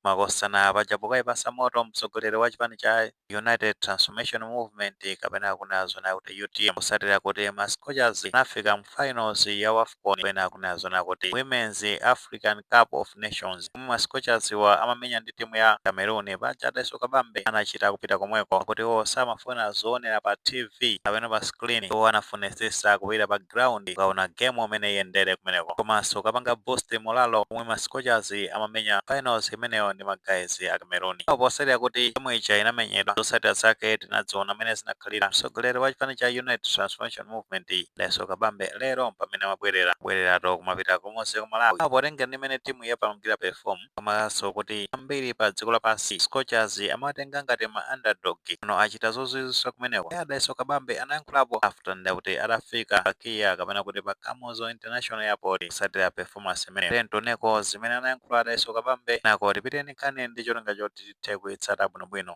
makosana paja pokaipasa moto mtsogoleri wa chipani cha United Transformation Movement kapena akunena zona kuti utm kusatira kuti ma Scorchers anafika mu finals ya Wafcon kapena akunena zona kuti Women's African Cup of Nations pomwe ma Scorchers wa amamenya ndi timu ya Cameroon paja a Dalitso Kabambe anachita kupita komweko kuti iwo samafuna zoonera pa TV kapena pa screen iwo anafunitsitsa kupita pa ground kukaona game mmene iyendere kumeneko komanso kukapanga boost morale pomwe ma scorchers amamenya finals imeneyo ndi ma guys a cameroon Apo potsatira kuti game ija inamenyedwa zotsatira zake tinadziona mmene zinakhalira mtsogoleri wa chipani cha united transformation movement Dalitso Kabambe lero mpamene amabwerera bwererato kumapita komweko ku malawi apo potengera ndi mmene timu yapangira perform Komanso kuti ambiri pa dziko lapansi scorchers amawatenga ngati ma underdog pano achita zozwizwisa kumeneko nde a Dalitso Kabambe anayankhulapo after nde akuti atafika pa kia kapena kuti pa kamuzu international airport kutsatira performance imeneyo tiyeni tioneko zimene anayankhula a Dalitso Kabambe kenako tiphitenso nkhani ndi cholinga choti tithe kuitsata bwinobwino.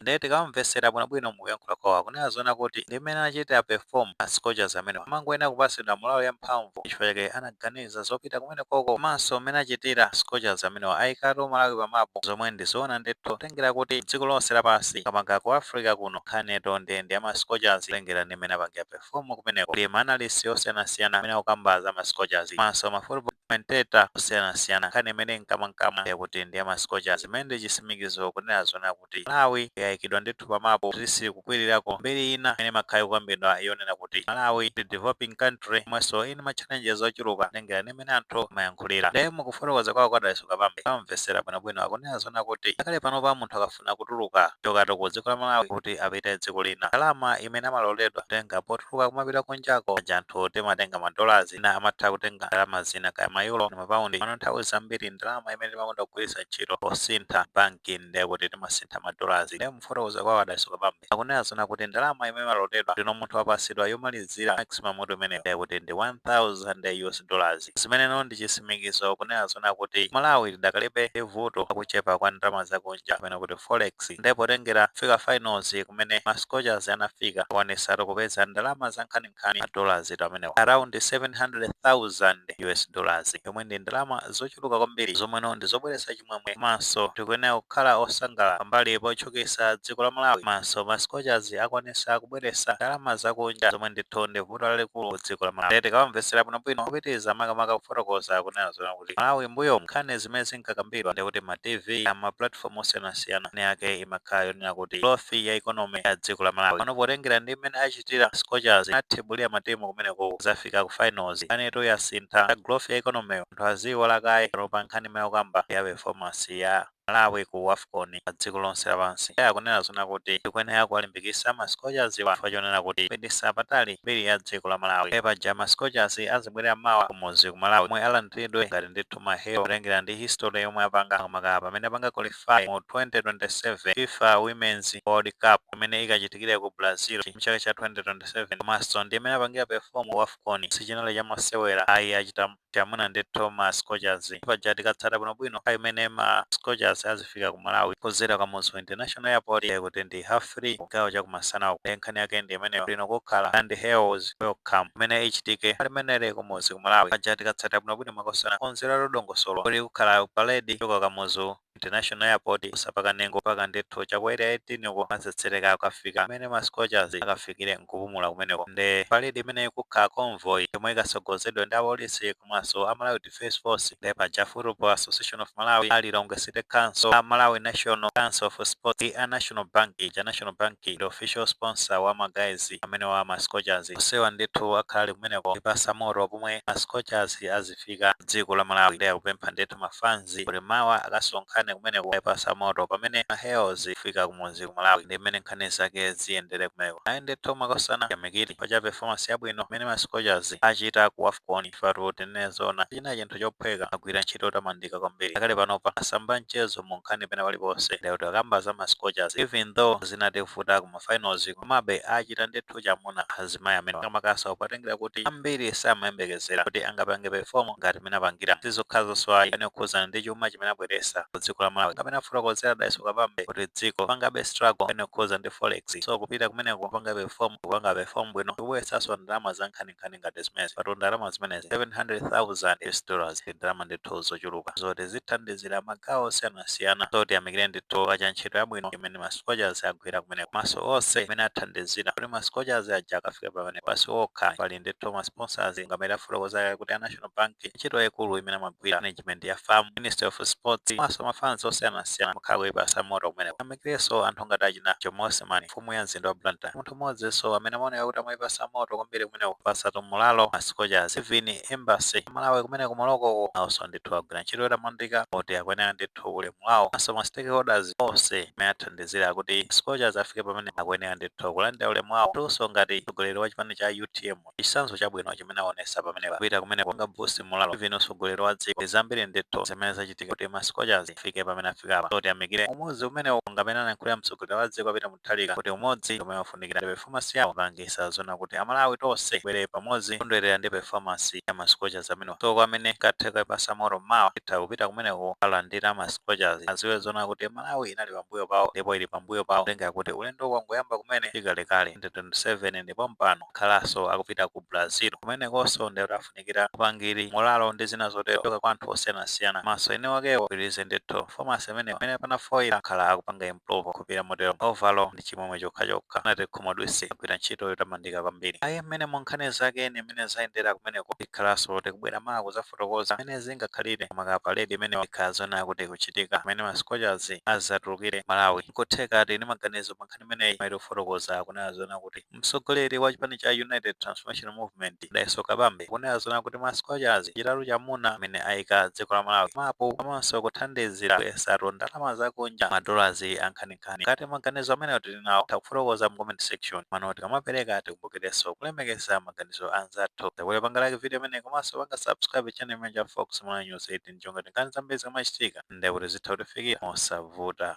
nde tikawamvesera bwinobwino mukuyankhula kwawo akunena zoona kuti ndi mmene anachitira perform ma scorchers amenewa amangoyenera kupasidwa moralo ya mphamvu ndi chifukwa chake anaganiza zopita kumenekoko komanso mmene achitira ma scorchers amenewa ayikatu Malawi pa map zomwe ndi zoona ndithu kutengera kuti dziko lonse lapansi makamaka ku Africa kuno nkhani yatoni nde ndi ya ma scorchers kutengera ndi mmene apangira perform kumeneko kuli ma analyst osiyanasiyana amene akukamba za ma scorchers komanso ma football commentator osiyanasiyana nkhani imene ili mkamwamkamwa yakuti ndi ya ma scorchers imene ndi chisimikizo kunena zoona kuti kuti Malawi yaikidwa ndithu pa mapu kuti zikukwirirako mbiri ina imene imakhala ikukambidwa yonena kuti Malawi ndi developing country yomwenso ili ndi ma challenges ochuluka kutengera ndi mmene anthu amayankhulira. Nde mu kufotokoza kwawo kwa a Dalitso Kabambe ukamvetsera bwinobwino akunena zoona kuti ngakhale panopa munthu akafuna kutuluka, kuchokatu ku dziko la Malawi kuti apite dziko lina, ndalama imene amaloledwa kutenga potuluka kumapita kunjako paja anthu timatenga ma dollars, ena amatha kutenga ndalama zina kaya mayulo ndi mapaundi komano nthawi zambiri ndalama imene timakonda kugwiritsa ntchito posintha banki ndiye kuti timasintha madolazi ndiye mufotokoza kwawo a Dalitso Kabambe akunena zona kuti ndalama imene imaloledwa ndino munthu wapasidwa yomalizira maximum mutu imeneyo ndiye kuti ndi 1000 us dollars zimeneno ndi chisimikizo kunena zona kuti malawi idakalibe ndi vuto lakuchepa kwa ndalama zakunja kapena kuti forex ndiye potengera kufika finals kumene ma scorchers anafika akwanitsatu kupeza ndalama za nkhani nkhani ma dollars tu amenewo around 700,000 US dollars yomwe ndi ndalama zochuluka kwambiri zomweno ndi zobweretsa chimwemwe komanso tikuyenera kukhala osangalala pambali potchukitsa dziko la Malawi komanso ma scorchers akwanitsa kubweretsa ndalama zakunja zomwe ndithu ndi vuto lalikulu ku dziko la Malawi Ndiye tikawamvetsera bwinobwino kupitiriza makamaka kufotokoza kunena zona kuti Malawi mbuyo nkhani zimene zinkakambidwa ndi kuti ma TV a ma platform osiyanasiyana nkhani yake imakhala yonena kuti growth ya economy ya dziko la Malawi pano potengera ndi mmene achi achitira scorchers athibulira matimu kumeneko zafika ku finals nkhanitu yasintha za growth ya economy anthu aziiwala kaye panopa nkhani imene akukamba ndi ya performance ya Malawi ku Wafcon pa dziko lonse lapansi iye akunena zona kuti tikuyenera kuwalimbikisa ma scorchers wa chifukwa chonena kuti kupitisa patali mbiri ya dziko la Malawi ndiye paja ma scorchers azibwerera mawa kumudzi ku Malawi komwe alandiridwe ngati ndithu ma hero kutengera ndi history yomwe apanga makamaka pamene apanga qualify mu 2027 fifa womens world cup imene ikachitikire ku Brazil mchaka cha 2027 komanso ndi mmene apangira perform ku wafcon sichinali cha masewera ayi achita chamuna ndithu ma scorchers paja tikatsata bwinobwino pa imene ma scorchers azi kufika ku Malawi kudzera Kamuzu International Airport ndiye kuti ndi half 3 kugawo cha kumasana uku ndiye nkhani yake ndi imeneyo bwino kukhala ndi heroes welcome imene ichitike limeneli kumudzi ku Malawi paja tikatsata bwinobwino makosana okonzera dongosolo kuli kukhala parade kuchoka Kamuzu International Airport kuzera pa Kanengo mpaka ndithu cha ku area 18 uko azitsetsereka akafika kumene ma scorchers akafikire nkupumula kumeneko nde parade imene ikukhala convoy yomwe ikatsogozedwe ndi apolisi komanso a Malawi Defence Force nde paja Football Association of Malawi, a Lilongwe City Council, a Malawi National Council of Sports ndi a National Bank ija. National Bank ndi official sponsor wa ma guys amenewa a ma Scorchers. Onsewa ndithu akhala ali kumeneko kuipatsa moto pomwe ma Scorchers azifika m'dziko la Malawi. Ndiye akupempha ndithu ma fans kuti mawa akasonkhane kumeneko kukaipatsa moto pamene ma heroes azifika kumudzi ku Malawi. Ndi mmene nkhani zake ziyendere kumeneko. Ayi ndithu makosana, tiyamikire chifukwa cha performance yabwino imene ma Scorchers achita ku Wafcon. Chifukwa tinene zoona sichinali chinthu chophweka agwira ntchito yotamandika kwambiri ngakhale panopa mmasamba a mchezo mu nkhani pena paliponse ndi kuti akamba za ma Scorchers even though zinadzavuta ku ma finals komabe achita ndithu chamuna azimayi amenewa makamakaso potengera kuti ambiri samayembekezera kuti angapange perform ngati mmene apangira sizokhazonso ayi nkhani yokhuzana ndi chuma chimene abweresa ku dziko la Malawi ngati mmene akufotokozera Dalitso Kabambe kuti dziko likupangabe struggle nkhani yokhuzana ndi forex so kupita kumeneko kupanga perform kupanga perform bwino ndikubweresaso ndalama za nkhani nkhani ngati zimenezi patu ndalama zimenezi 700,000 US dollars ndi ndalama ndithu zochuluka zoti zithandizira magawo osiyanasiyana so tiyamikire ndithu pa ntchito yabwino imene ma scorchers agwira kumeneko komanso onse imene athandizira kuti ma scorchers aja akafike pamenepa si okha pali ndithu ma sponsors ngati mmene afotokozera kuti a national bank ntchito yaikulu imene amagwira management ya FAM ministry of sports komanso mafans osiyanasiyana amakhala akuipasa moto kumeneko tiyamikireso anthu ngati achina jomo osman mfumu ya mzinda wa blantyre mmodzinso amene amaoneka kuti amaipasa moto kwambiri kumeneko kuwapasatu morale ma scorchers even embassy ya malawi kumene ku morocco ko naoso ndithu agwira ntchito yotamandika moti akuyenera ndithu ulemu wao komanso ma stakeholders ose amene athandizira kuti scorchers afike pamene akuyenera ndithu kulandira ulemu wao nduso ngati mtsogoleri wa chipani cha utm Mulungu. Chitsanzo chabwino chimene awonetsa pamenepa kupita kumeneko kupanga boost molalo even mtsogoleri wa dziko ndi zambiri ndithu zimene zachitika kuti ma Scorchers afike pamene afikapa so tiyamikire umodzi umenewo monga amene anayankhulira mtsogoleri wa dziko a Peter Mutharika kuti umodzi ndi umene ufunikira ndi performance yawo ikupangitsa zoona kuti a Malawi tonse tibwere pamodzi kukondwerera ndi performance ya ma Scorchers amenewa so kwa amene kungatheke kuipatsa moto mawa titha kupita kumeneko kukalandira ma Scorchers adziwe zoona kuti Malawi inali pambuyo pawo ndipo ili pambuyo pawo kutengera kuti ulendo wangoyamba kumene si kalekale 2027 ndi pompano. kukhalanso akupita ku Brazil kumenekonso ndiye kuti afunikira upangiri, molalo ndi zina zotero kuchoka kwa anthu osiyanasiyana komanso eni akewo apitirize ndithu performance imeneyo pamene panafoila akhala akupanga improve kupita motero overall ndi chimwemwe chokhachokha. Sanatikhumudwitse agwira ntchito yotamandika kwambiri. Ayi mmene mu nkhani zake ndi mmene zayendera kumeneko tikhalanso tikubwera mawa kudzafotokoza mmene zingakhalire maka parade imeneyo ikhala zoona kuti ikuchitika pamene ma Scorchers adzatulukire ku Malawi. Nkutheka tili ndi maganizo pa nkhani imeneyi koma tikufotokoza kunena zoona kuti Mtsogoleri wa chipani cha United Transformation Movement, Dalitso Kabambe, akunena zoona kuti ma Scorchers achitatu chamuna amene aika dziko la Malawi pa mapu komanso kuthandizira kubweretsatu ndalama za kunja ma dollars ankhaninkhani. Ngati maganizo amenewo tili nawo, titha kufotokoza mu comment section. Komano tikamapereka tikumbukirenso kulemekeza maganizo a anzathu. Muzabwere panga like video imeneyi komanso panga subscribe channel chimenechi cha Fox Malawi News 18 cholinga kuti nkhani zambiri zikamachitika ndiye kuti zitha kutifikira mosavuta.